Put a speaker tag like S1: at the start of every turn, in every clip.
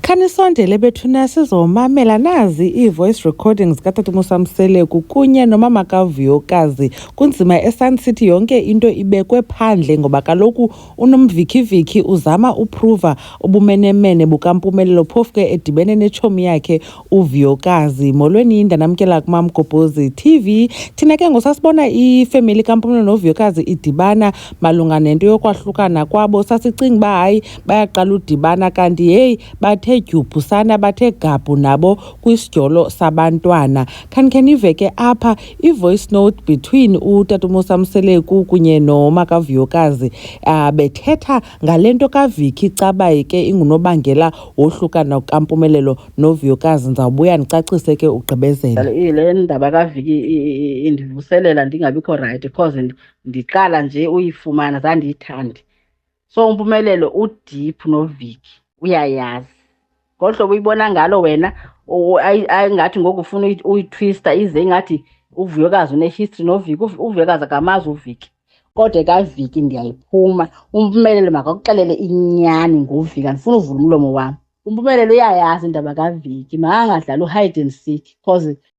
S1: Khanisondele bethuna sizomamela nazi ii-voice recordings katata Mseleku kunye nomama kavuyokazi kunzima esun city yonke into ibekwe phandle ngoba kaloku unomvikiviki uzama uphruva ubumenemene bukampumelelo phofu ke edibene netshomi yakhe uvuyokazi molweni yinda namkela kumamgobhozi tv thina ke ngosasibona ifemeli kampumelelo novuyokazi idibana malunga nento yokwahlukana kwabo sasicinga uba hayi bayaqala udibana kanti heyi bathe dyubhusana bathe gabhu nabo kwisidyolo sabantwana khanikhe ke apha i-voice note between utatumosa mseleku kunye nomakavuyokazi um ah, bethetha ngale nto kaviki cabayi ke ingunobangela wohlukana kukampumelelo novuyokazi ndizawubuya ndicacise ke ugqibezela le ndaba
S2: kaviki indivuselela ndingabikho rayithi because ndiqala nje uyifumana zandiyithandi so umpumelelo udeep noviki uyayazi ngolu hlobo uyibona ngalo wena ingathi ngoku ufuna uyitwista ize ingathi uvuyokazi unehistory noviki uvuyokazi akamazi uviki kodwa kaviki ndiyayiphuma umpumelelo makakuxelele inyani ngoviki andifuna uvula umlomo wam umpumelelo uyayazi indaba kaviki makangadlali uhide and seek because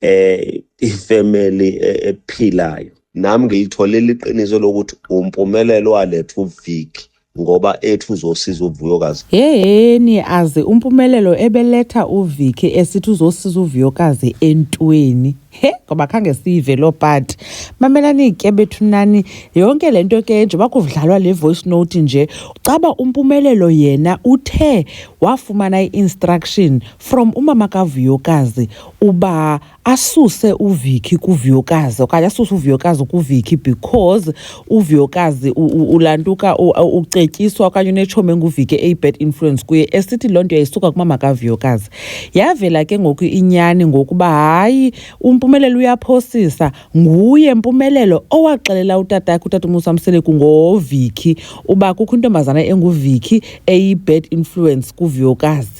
S3: eh ifamily e- ephilayo nam ngilitholile iqiniso lokuthi umpumelelo waletha uviki ngoba ethu uzosiza uvuyokazi Yeyeni
S1: aze umpumelelo ebeletha uViki esithi uzosiza uVuyokazi entweni. He ngoba khange siyive loo part. Mamelani ke bethu nani yonke le nto ke njengoba kudlalwa le voice note nje caba umpumelelo yena uthe wafumana i-instruction from umama kaVuyokazi uba asuse uVicky kuViyokazi okanye asuse uViyokazi kuVicky because uViyokazi ulantuka ucetyiswa okanye unetshomi enguVicky eyi-bad influence kuye esithi loo nto yayisuka kumama kaViyokazi yavela ke ngoku inyani ngokuba hayi umpumelelo uyaphosisa nguye mpumelelo owaxelela utata yakhe utata umusa mseleku ngoVicky uba kukho intombazana enguVicky eyi-bad influence kuViyokazi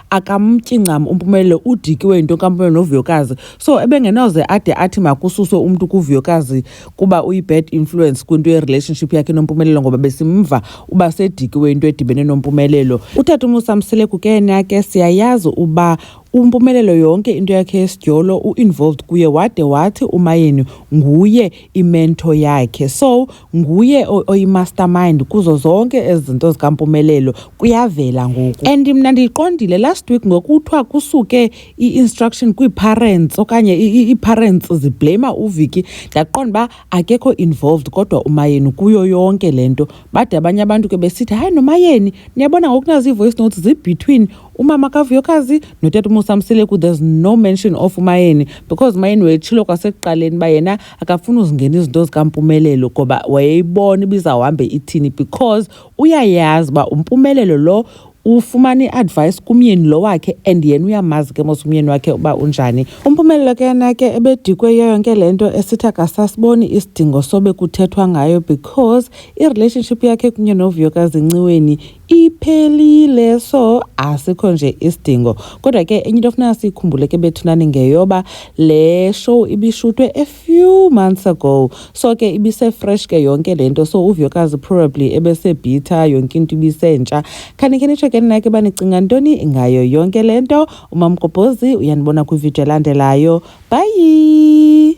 S1: akamtyi ncam umpumelelo udikiwe yinto kampumelelo novuyokazi so ebengenoze ade athi makususwe umntu kuvuyokazi kuba uyi-bad influence kwinto yerelationship yakhe nompumelelo ngoba besimva uba sedikiwe into edibene nompumelelo utata umusamseleku ke yena ke siyayazi uba umpumelelo yonke into yakhe yesidyolo u-involved kuye wade wathi umayeni nguye imento yakhe so nguye oyimastermind kuzo zonke ezi zinto zikampumelelo kuyavela ngoku and mna ndiyiqondile last week ngokuthiwa kusuke i-instruction kwii-parents okanye ii-parents zibleyima uviki ndaqonda uba akekho involved kodwa umayeni kuyo yonke le nto bade abanye abantu ke besithi hayi nomayeni niyabona ngokunazi ii-voice notes zibetween umama kavuyokazi notata umusamseleku there's no mention of umayeni because umayeni wetshilo kwasekuqaleni uba yena akafuni uzingena izinto zikampumelelo ngoba wayeyibona ibizawuhambe ithini because uyayazi uba umpumelelo lo ufumana i-advice kumyeni lo wakhe and yena uyamazi ke mos umyeni wakhe uba unjani umphumelelo ke yena ke ebedikwe yiyo yonke le nto esithi akasasiboni isidingo sobe kuthethwa ngayo because i-relationship yakhe kunye novuyokazinciweni iphelile so asikho nje isidingo kodwa ke enye into ofuna siyikhumbule ke bethunani ngeyoba le show ibishutwe a few months ago so ke ibisefresh ke yonke le nto so uvuyokazi probably ebesebhitha yonke into ibisentsha khanikhe nitsho ke ninake uba nicinga ntoni ngayo yonke le nto umamgobhozi uyanibona kwividiyo elandelayo bhayi